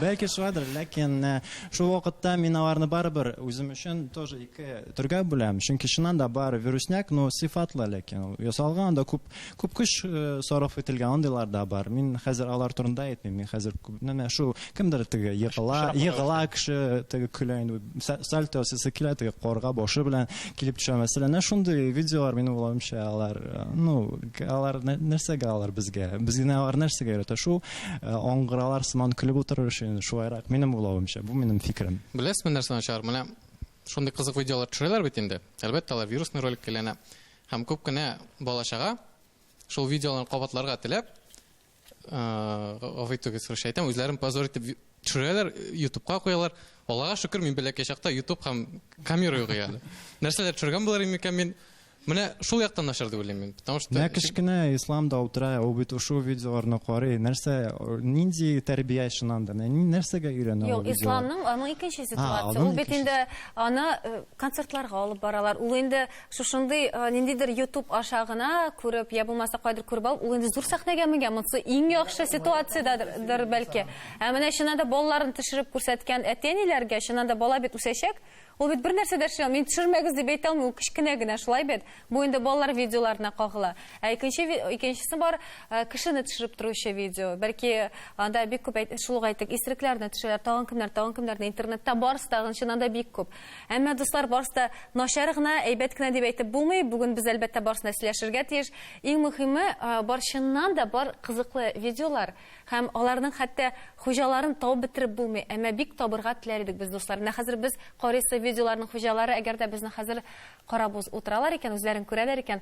Бәлки шулайдыр, ләкин э, шул вакытта мин аларны барыбер үзем өчен тоже ике төргә бүләм. Чөнки чыннан да бар вирусняк, но сыйфатлы ләкин ясалган да күп Күп көч сарыф ителгән андыйлар да бар. Мин хәзер алар турында әйтмим. Мин хәзер менә шу кемдер теге егыла, егыла кеше теге көлә инде. Сальто сесе килә теге корга башы белән килеп төшә мәсәлән. Менә шундый видеолар минем уйлавымча алар, ну, алар нәрсәгә алар безгә? Безне алар нәрсәгә өйрәтә? Шу аңгыралар сыман көлеп утырыр өчен шулайрак минем уйлавымча. Бу минем фикерем. Беләсезме нәрсә начар? Менә шундый кызык видеолар төшерәләр бит инде. Әлбәттә, алар вирусный ролик киләнә. Һәм күп кенә бала-чага шул видеоларны кабатларга теләп, гафу итегез, русча әйтәм, үзләрен позор итеп төшерәләр, ютубка куялар. Аллага шөкер, мин бәләкәй чакта ютуб һәм камера юк иде әле. Нәрсәләр төшергән булыр идем микән мин? Менә шул яктан начар дип уйлыйм мин. Потому что Менә кечкенә ислам да утыра, ул бит ушу видеоларны карый. Нәрсә, нинди тәрбия ишенанда, нәрсәгә өйрәнә ул? Юк, исламның аның икенче ситуациясе. Ул бит инде аны концертларга алып баралар. Ул инде шушындый э, ниндидер ютуб аша гына күреп я булмаса кайдыр күреп алып ул инде зур сәхнәгә менгән монысы иң яхшы ситуациядәдер бәлки ә менә чыннан да балаларын төшереп күрсәткән әти әниләргә чыннан да бала бит үсәчәк ул бит бер нәрсә дә эшли алмый мин төшермәгез дип әйтә алмыйм ул кечкенә генә шулай бит бу инде балалар видеоларына кагыла ә икенче икенчесе бар э, кешене төшереп торучы видео бәлки анда бик күп шул ук әйтик исерекләрне төшерәләр тагын кемнәр тагын кемнәрне интернетта барысы тагын чыннан да бик күп Әмма, дуслар, барысы да начар гына, әйбәт кенә дип әйтеп булмый. Бүген без, әлбәттә, барысын да сөйләшергә тиеш. Иң мөһиме, бар чыннан да бар кызыклы видеолар һәм аларның хәтта хуҗаларын табып бетереп булмый. Әмма бик табырга теләр идек без, дуслар. Менә хәзер без карыйсы видеоларның хуҗалары, әгәр дә безне хәзер карап утыралар икән, үзләрен күрәләр икән,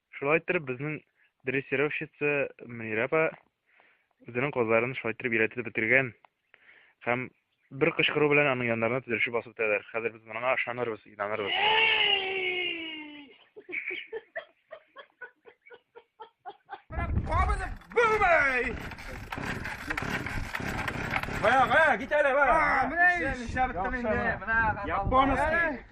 Шулай иттереп безнең дрессировщица Мөнирә апа үзенең козларын шулай иттереп өйрәтеп бетергән. Һәм бер кычкыру белән аның яннарына тезелешеп басып бетәләр. Хәзер без моңа ышанырбыз, инанырбыз. Бая, бая, китәле, бая. Менә нишләп беттем инде. Японский.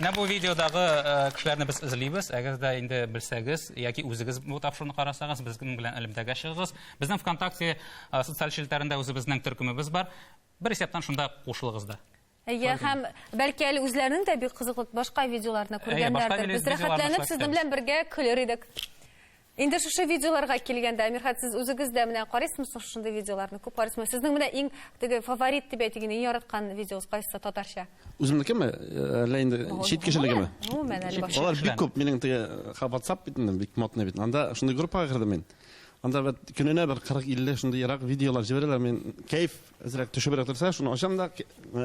Менә бу видеодагы э, кешеләрне без эзлибез. Әгәр дә инде белсәгез яки үзегез бу тапшыруны карасагыз, безнең белән элемтәгә чыгыгыз. Безнең ВКонтакте э, социаль челтәрендә үзебезнең төркемебез бар. Бер исәптән шунда кушылыгыз да. Әйе, һәм бәлки әле үзләренең дә бик кызыклы башка видеоларны күргәннәрдер. Без рәхәтләнеп сезнең белән бергә көлер идек. Инде шушы видеоларга килгәндә, Мирхат, сез үзегез дә менә карыйсызмы шушындый видеоларны? Күп карыйсызмы? Сезнең менә иң теге фаворит дип әйтик, иң яраткан видеосы кайсы татарча? Үземнекеме? Әллә инде чит кешенекеме? Гомумән әле башка. Алар бик күп. Минем теге WhatsApp бит инде бик модный бит. Анда шундый группага кердем мин. Анда бит көненә бер 40-50 шундый ерак видеолар җибәрәләр. Мин кайф Әзрәк төшебрәк торса, шуны ачам да,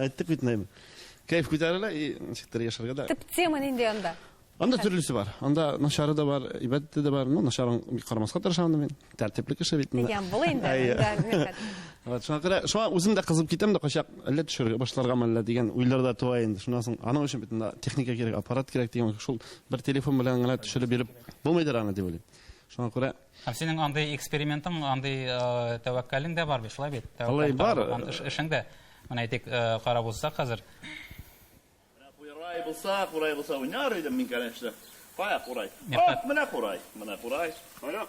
әйттек бит инде. Кәйф күтәрелә и ничектер яшәргә дә. Төп тема нинди анда? Анда төрлесе бар. Анда начары да бар, әйбәте дә бар. Ну, начарын бик карамаска тырышам да мин. Тәртипле кеше бит инде. Дигән бул инде. Вот, шуңа күрә, шуңа үзем дә кызып китәм дә качак, әллә төшерергә башларга мәллә дигән уйлар да туа инде. Шуннан соң аның өчен бит инде техника кирәк, аппарат кирәк дигән шул бер телефон белән генә төшереп биреп булмыйдыр аны дип уйлыйм. Шуңа күрә Һәм синең андый экспериментың, андый тәвәккәлең дә бар бит, шулай бит? Алай бар. Эшең дә, менә әйтик, карап узсак хәзер. Менә курай булса, курай булса уйнар идем мин, конечно. Кая курай? Ат, менә курай, менә курай. Кая?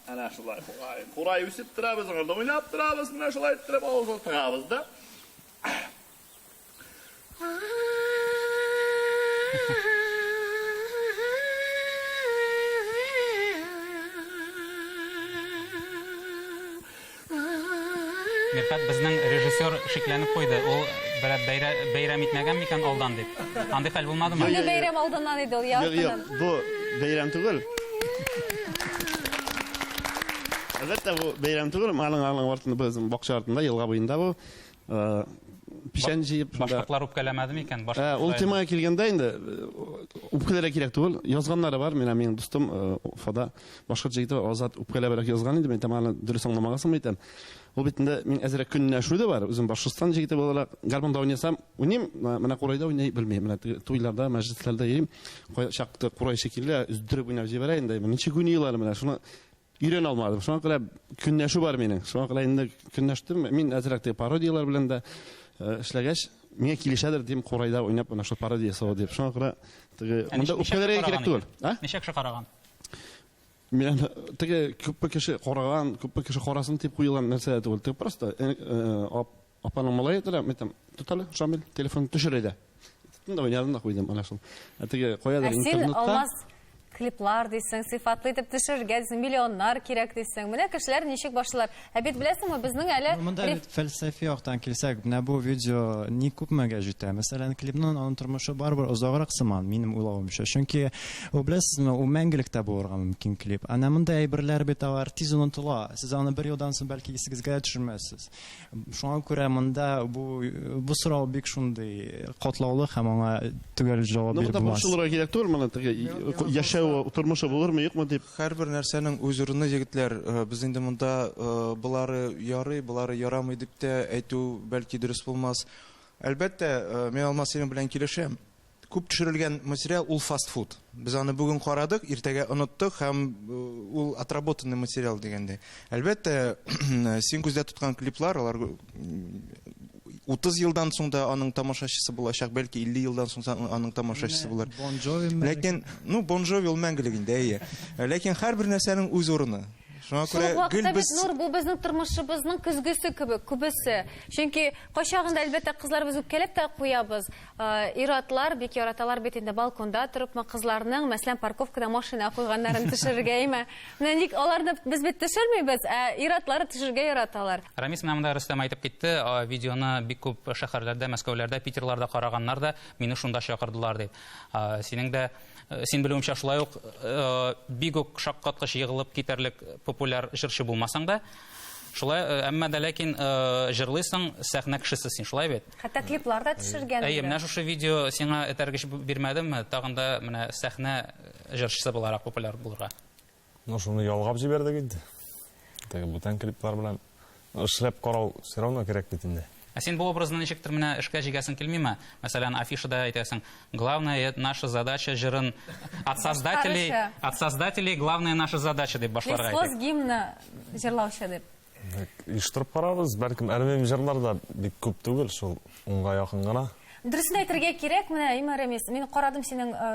Әнә шулай курай. Курай үсеп тора, без анда уйнап торабыз, менә шулай иттереп авызын тыгабыз да. Мирхәт безнең режиссер шикләнеп куйды. Ул берәр бәйрә, бәйрәм итмәгән микән алдан дип. Андый хәл булмадымы? Юк, юк. бәйрәм алдыннан иде ул, Юк, юк, бу бәйрәм түгел. Әлбәттә, бу бәйрәм түгел. Малың, алың артында, безнең бакча артында, елга буенда бу. Э, печән җыеп башкортлар үпкәләмәде микән э, ул темага килгәндә инде э, үпкәләргә кирәк түгел язганнары бар менә минем дустым уфада башкорт егете азат үпкәләбрәк язган инде мин тамаганы дөрес аңламагансыңмы икән ул бит инде мин әзерәк көнләшү дә бар үзем башкортстан егете буларак гармунда уйнасам уйныйм менә курайда уйный белмим менә туйларда мәҗлесләрдә йөрим кайчакта курай шикелле өздереп уйнап җибәрә инде ничек уйныйлар менә шуны Өйрәнә алмадым. Шуңа күрә көнләшү бар минем. Шуңа күрә инде көнләштем. Мин әзрәк теге пародияләр белән дә э, эшләгәч, миңа килешәдер дим курайда уйнап ана шул пародия ясау дип. Шуңа күрә теге Ә монда ничек- ничек үпкәләргә караган кирәк түгел. икән? А? Ничек кеше караган? Мин аны теге күпме кеше караган, күпме кеше карасын дип куелган нәрсә дә түгел. Теге просто э, э, ап- Апаның малае да мен там тотале Шамил телефон төшерә дә. Тотын да мин янына куйдым ана шул. Ә теге каядыр Ә син интернетка. алмаз клиплар дисең, сыйфатлы итеп төшерергә дисең, миллионнар кирәк дисең. Менә кешеләр ничек башлыйлар. Ә бит беләсеңме, безнең әле Ну, Монда реф- бит фәлсәфи яктан килсәк, менә бу видео ни күпмегә җитә. Мәсәлән, клипның аның тормышы барыбер озаграк сыман, минем уйлавымча. Чөнки, ул беләсезме, ул мәңгелек тә булырга мөмкин клип. Әнә мондый әйберләр бит алар тиз онытыла. Сез аны бер елдан соң бәлки исегезгә дә төшермәссез. Шуңа күрә монда бу бу сорау бик шундый катлаулы һәм аңа төгәл җавап биреп булмас. Борчылырга кирәк түгел моны теге яшәү тормышы булырмы юкмы дип. Һәрбер нәрсәнең үз урыны егетләр. Э, без инде монда э, болары ярый, болары ярамый дип тә әйтү бәлки дөрес булмас. Әлбәттә, э, мин Алмасина белән килешәм. Күп төшерелгән материал ул фастфуд. Без аны бүген карадык, иртәгә оныттык һәм ул отработанный материал дигәндәй. Әлбәттә, син күздә тоткан клиплар, алар 30 елдан соң да аның тамашачысы булачак, бәлки 50 елдан соң да аның тамашачысы булыр. Ләкин, ну, Бон Джови ул мәңгелек инде, әйе. Ләкин һәрбер нәрсәнең үз урыны. Шуңа күрә гел без Нур бу безнең тормышыбызның көзгесе кебек, күбесе. Чөнки кайчагында әлбәттә кызларыбыз үпкәләп тә куябыз. Ир-атлар бик яраталар бит инде балконда торыпмы, кызларның, мәсәлән, парковкада машина куйганнарын төшерергәме? Менә ник аларны без бит төшермибез, ә ир-атлары төшергә яраталар. Рамис, менә монда Рөстәм әйтеп китте, видеоны бик күп шәһәрләрдә, Мәскәүләрдә, Питерларда караганнар да, мине шунда чакырдылар дип. Синең дә, син белүемчә, шулай ук бик үк шаккаткыч егылып китәрлек популяр җырчы булмасаң да, шулай, әмма дә ләкин җырлыйсың, сәхнә кешесе син, шулай бит? Хәтта клиплар да төшергән. Әйе, менә шушы видео сиңа этәргеч бирмәдемме? Тагын да менә сәхнә җырчысы буларак популяр булырга. Ну, шуны ялгап җибәрдек инде. Теге бүтән клиплар белән эшләп карау все равно кирәк бит инде. Ә син бу образны ничектер менә эшкә җигәсең килмиме? Мәсәлән, афишада әйтәсең, главная наша задача җырын от создателей, от создателей главная наша задача дип башларга. Лесхоз гимна җырлаучы дип. Оештырып карабыз, бәлкем әрмим җырлар да бик күп түгел, шул унга якын гына. Дөресен әйтергә кирәк, менә Иман Рәмис, мин карадым синең э,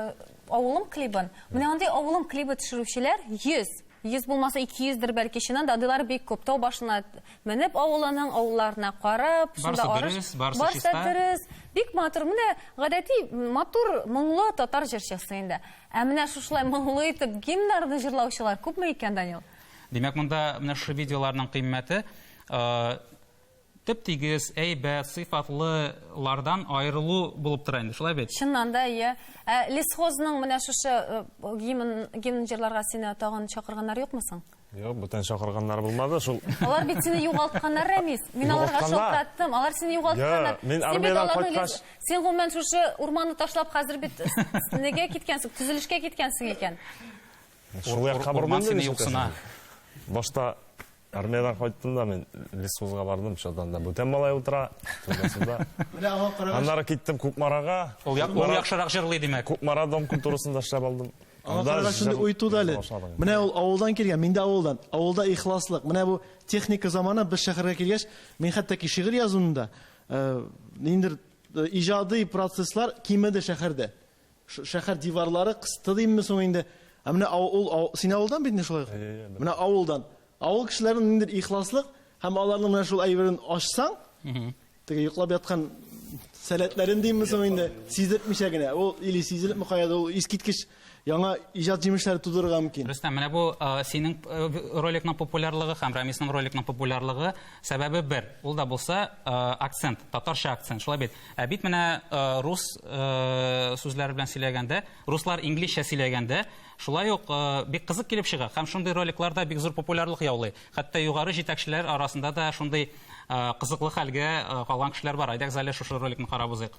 авылым клибын. Менә андый авылым клибы төшерүчеләр 100, 100 булмаса 200 дер бәлки чыннан да адилар бик күп. Тау башына менеп авылының авылларына карап, шунда арыш. Барсы дөрес. Бик матур. Менә гадәти матур моңлы татар җырчысы инде. Ә менә шушылай моңлы итеп гимннарны җырлаучылар күпме икән, Данил? Димәк, монда менә шушы видеоларның кыйммәте теп-тигез, әйбәт, сыйфатлылардан аерылу булып тора инде, шулай бит? Чыннан да, иә. Ә лесхозның менә шушы гимн, гимн җырларга сине тагын чакырганнар юкмы соң? Юк, бүтән чакырганнар булмады шул. Алар бит сине югалтқаннар, Рәмис. Мин аларга шалтыраттым. Алар сине югалтқаннар. Мин армиядән кайткач. Син гомумән шушы урманны ташлап хәзер бит неге киткәнсең, төзелешкә киткәнсең икән. Урман сине юксына. Башта армиядән кайттым да мин лесхозга бардым, шунда да бүтән малай утыра, тулысында. Менә аңа карагач. Аннары киттем Кукмарага. Ул яхшырак җырлый димәк. Кукмара дом культурасында эшләп алдым. Аңа карагач инде уй туды әле. Менә ул авылдан килгән, мин дә авылдан. Авылда ихласлык. Менә бу техника заманы без шәһәргә килгәч, мин хәтта ки шигырь язуымда, ниндидер иҗади процесслар кимеде шәһәрдә. Шу шәхәр диварлары кысты димме соң инде? Ә менә ау ул ау син авылдан бит инде шулай. Менә авылдан. Авыл кешеләрен ниндер ихласлык һәм аларның менә шул әйберен ачсаң, теге йоклап яткан сәләтләрен димме соң инде? Сизертмичә генә. Ул или сизелепме каядыр, ул искиткеч яңа иҗат җимешләре тудырырга мөмкин. Рөстәм, менә бу синең роликның популярлыгы һәм Рамисның роликның популярлыгы сәбәбе бер. Ул да булса акцент, татарча акцент. Шулай бит. Ә бит менә э, рус э, сүзләре белән сөйләгәндә, руслар инглизчә сөйләгәндә, шулай ук э, бик кызык килеп чыга. Һәм шундый роликлар да бик зур популярлык яулый. Хәтта югары җитәкчеләр арасында да шундый э, кызыклы хәлгә э, калган кешеләр бар. Әйдәгез әле шушы роликны карап узыйк.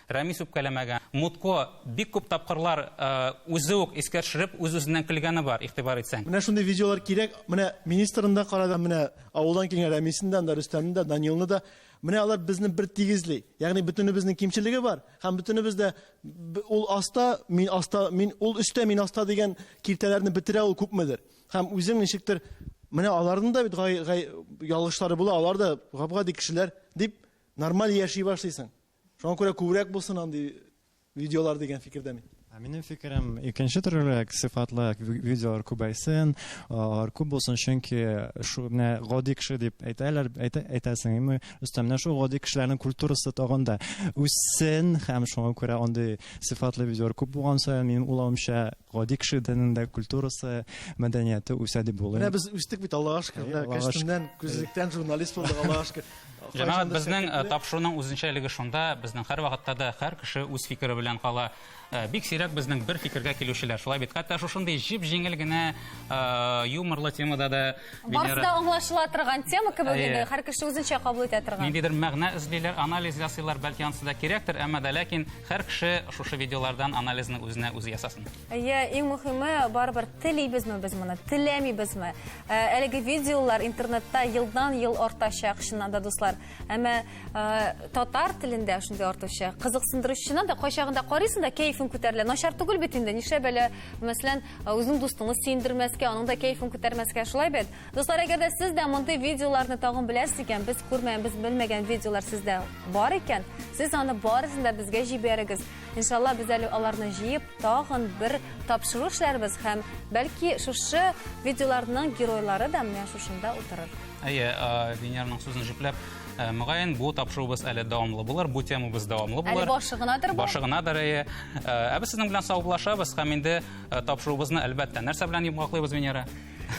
Рәмис үпкәләмәгән. Мутко бик күп тапкырлар үзе үк искә төшереп, үз-үзеннән көлгәне бар, игътибар итсәң. Менә шундый видеолар кирәк. Менә министрны да карадым, менә авылдан килгән Рәмисне дә, анда Рөстәмне дә, Данилны да. Менә алар безне бер тигезли. Ягъни бөтенебезнең кимчелеге бар һәм бөтенебез дә ул аста, мин аста, мин ул өстә, мин аста дигән киртәләрне бетерә ул күпмедер. Һәм үзең ничектер менә аларның да бит гай гай ялгышлары була, алар да гап-гади кешеләр дип нормаль яши башлыйсың. Шуңа күрә күбрәк булсын андый видеолар дигән фикердә мин. Ә минем фикерем икенче төрлерәк сыйфатлы видеолар күбәйсен, алар күп булсын, чөнки шу менә гади кеше дип әйтәләр, әйтәсең, әмма өстәмнән шул гади кешеләрнең культурасы тагын да үссен һәм шуңа күрә андый сыйфатлы видеолар күп булган саен минем уйлавымча гади кешенең дә культурасы, мәдәнияте үсә дип була. Менә без үстек бит, Аллага шөкер, менә кәчтүмнән, күзлектән журналист булдык, Аллага шөкер. Җәмәгать, безнең э, тапшыруның үзенчәлеге шунда, безнең һәрвакытта да һәр кеше үз фикере белән кала. Э, бик сирәк безнең бер фикергә килүчеләр. Шулай бит. Хәтта шушындый җип-җиңел генә э, юморлы темада да Барысы да аңлашыла торган тема кебек Әйе. инде, һәр кеше үзенчә кабул итә торган. ниндидер мәгънә эзлиләр, анализ ясыйлар, бәлки анысы да кирәктер, әмма да ләкин һәр кеше шушы видеолардан анализны үзенә үзе ясасын. Әйе, иң мөхиме, барыбер телибезме без моны, теләмибезме? Ә, Әлеге видеолар интернетта елдан-ел артачак, чыннан да, дуслар. Әмма ә, татар телендә шундый артучы, кызыксындыручы, чыннан да, кайчагында карыйсың да, кәефең күтәрелә. Начар түгел бит инде, нишләп әле, мәсәлән, ә, үзеңнең дустыңны сөендермәскә, аның да кәефен күтәрмәскә, шулай бит? Дуслар, әгәр дә сез дә мондый видеоларны тагын беләсез икән, без күрмәгән, без белмәгән видеолар сездә бар икән, сез аны барысын да безгә җибәрегез. Иншалла, без әле аларны җыеп, тагын бер тапшыру эшләрбез һәм бәлки шушы видеоларның геройлары да менә шушында утырыр. Әйе, Венерның сүзен җипләп, Э, мөгаен бу тапшыруыбыз әле дәвамлы булыр бу темабыз дәвамлы булыр әле башы гынадыр бу башы гынадыр әйе э, ә без сезнең белән саубуллашабыз һәм инде э, тапшыруыбызны әлбәттә нәрсә белән йомгаклыйбыз венера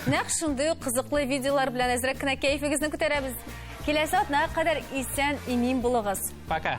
нәкъ шундый ук кызыклы видеолар белән әзрәк кенә кәефегезне күтәрәбез киләсе атнага кадәр исән имин булыгыз пока